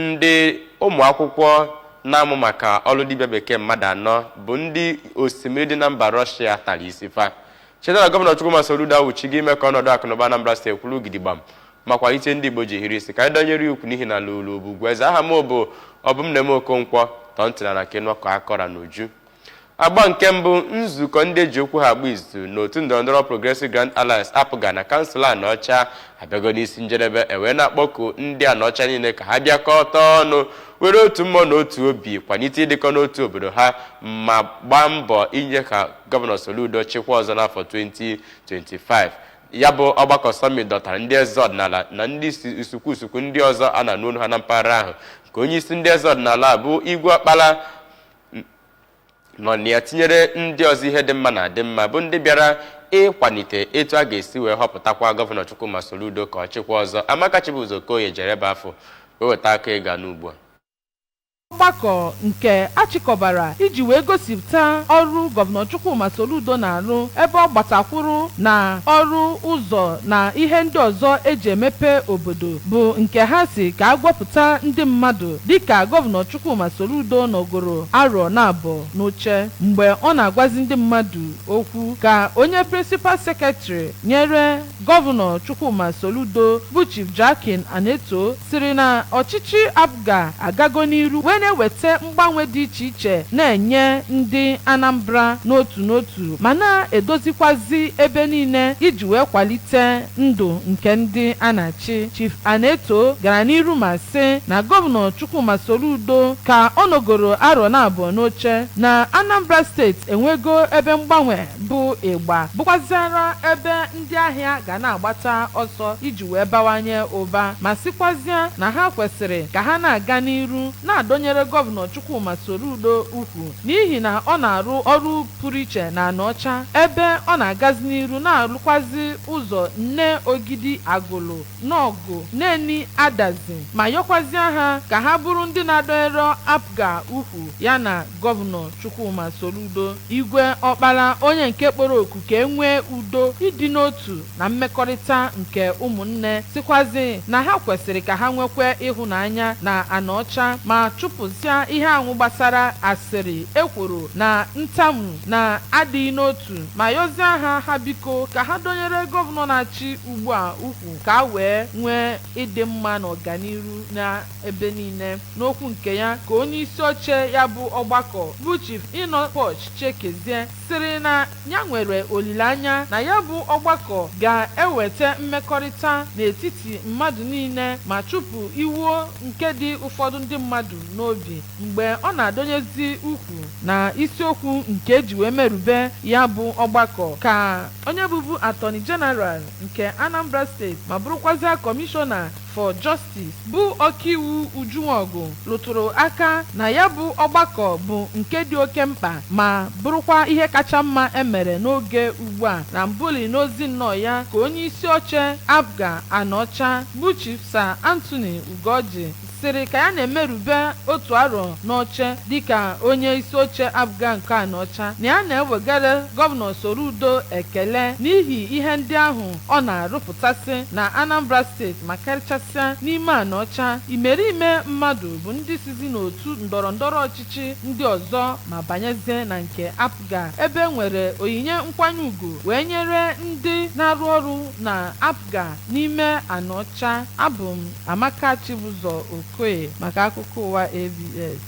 Ndị ụmụakwụkwọ na-amụ maka ọrụ dibịa bekee mmadụ anọ bụ ndị osimiri dị na mba Rọshịa tara isi fa. Cheta na Gọvanọ Chukwuma Soludo awụchigo ime ka ọnọdụ akụnụba Anambra steeti kwụrụ gidigbam ma kwalite ndị Igbo ji hiri isi ka anyị dọnyere ya ukwu n'ihi na lụrụ bụ ugwu eze aha m bụ Obumneme Okonkwo tọọ ntị n'ala ka ị nụọ ka akọrọ ya n'uju. Agba nke mbụ nzukọ ndị eji okwu ha agba izu n'otu ndọrọndọrọ Progressive Grand Alliance APGA na kansụl Anaọcha abịago n'isi njedebe ewee na-akpọku ndị Anaọcha niile ka ha bịakọta ọnụ were otu mmụọ na otu obi kwalite ịdịkọ n'otu obodo ha ma gbaa mbọ inye aka gọvanọ Soludo chịkwa ọzọ n'afọ 2025 ya bụ ọgbakọ sọmit dọtara ndị eze ọdịnala na ndị isi ukwu isi ukwu ndị ọzọ a na-anụ olu ha na mpaghara ahụ ka onye isi ndị eze ọdịnala bụ Igwe Ọkpala nọ na ya tinyere ndị ọzọ ihe dị mma na-adị mma bụ ndị bịara ịkwalite etu a ga-esi wee họpụtakwa gọvanọ Chukwuma Soludo ka ọ chịkwa ọzọ Amaka Chibuzor Okoye jere ebe afụ wee weta ya ka ị ga-anụ ugbu a ọgbakọ nke achịkọbara iji wee gosipụta ọrụ gọvanọ Chukwuma Soludo na-arụ ebe ọ gbatakwụrụ na ọrụ ụzọ na ihe ndị ọzọ eji emepe obodo bụ nke ha sị ka a gwapụta ndị mmadụ dịka Gọvanọ Chukwuma Soludo nọgoro arọ naabọ n'oche mgbe ọ na-agwazi ndị mmadụ okwu ka onye Prịnsịpal Seketrị nyere Gọvanọ Chukwuma Soludo bụ Chief Joachim Anetoh sịrị na ọchịchị APGA agago n'iru wee na-eweta mgbanwe dị iche iche na-enye ndị Anambra n'otu n'otu ma na-edozikwazi ebe niile iji wee kwalite Ndụ nke ndị a na-achị, Chief Anetoh gara n'iru ma sị na Gọvanọ Chukwuma Soludo ka ọ nọgoro arọ naabọ n'oche na Anambra steeti enwego ebe mgbanwe bụ ịgba bụkwaziara ebe ndị ahịa ga na-agbata ọsọ iji wee bawanye ụba ma sịkwazịa na ha kwesịrị ka ha na-aga n'iru na-adọnyere Gọvanọ Chukwuma Soludo ukwu n'ihi na ọ na-arụ ọrụ pụrụ iche n'Anaọcha ebe ọ na-agazi n'iru na-arụkwazi ụzọ Nneogidi Agụlụ, Nọọgụ, Neni, Adazi ma yọkwazịa ha ka ha bụrụ ndị na-adọnyere APGA ukwu ya na Gọvanọ Chukwuma Soludo, Igwe Ọkpala onye nke kpọrọ oku ka e nwee udo, ịdị n'otu na mmekọrịta nke ụmụnne, sịkwazị na ha kwesịrị ka ha nwekwe ịhụnanya na Anaọcha ma chụpụzịa ihe ahụ gbasara asịrị, ekworo na ntamu na adịghị n'otu ma yọzịa ha ha biko ka ha dọnyere Gọvanọ na-achị ugbua ukwu ka a wee nwee ịdị mma na ọganiru n'ebe niile. N'okwu nke ya ka onye isi oche ya bụ ọgbakọ bụ Chief Enoch Poch Chiekezie sịrị na ya nwere olileanya na ya bụ ọgbakọ ga-eweta mmekọrịta n'etiti mmadụ niile ma chụpụ iwe nke dị ụfọdụ ndị mmadụ n'obi mgbe ọ na-adọnyezi ukwu na isiokwu nke e ji wee merube ya bụ ọgbakọ ka onye bụbu Attorney General nke Anambra steeti ma bụrụkwazịa kọmishọna for Justice bụ ọkaiwu Uju Nwogu rụtụrụ aka na ya bụ ọgbakọ bụ nke dị oke mkpa ma bụrụkwa ihe kacha mma e mere n'oge ugbu a na mbụli n'ozi nnọọ ya ka onye isi oche APGA Anaọcha bụ Chief Sir Anthony Ugorji sịrị ka ya na-emerube otu arọ n'oche dịka onye isi oche APGA nke Anaọcha na ya na-ewegara gọvanọ Soludo ekele n'ihi ihe ndị ahụ ọ na-arụpụtasị na Anambra steeti ma karịchasịa n'ime Anaọcha, imerime mmadụ bụ ndị sizi n'otu ndọrọndọrọ ọchịchị ndị ọzọ ma banyezie na nke APGA ebe e nwere onyinye nkwanye ugwu wee nyere ndị na-arụ ọrụ na APGA n'ime Anaọcha. Abụ m Amaka Chibụzọ Okoye maka akụkọ ụwa ABS.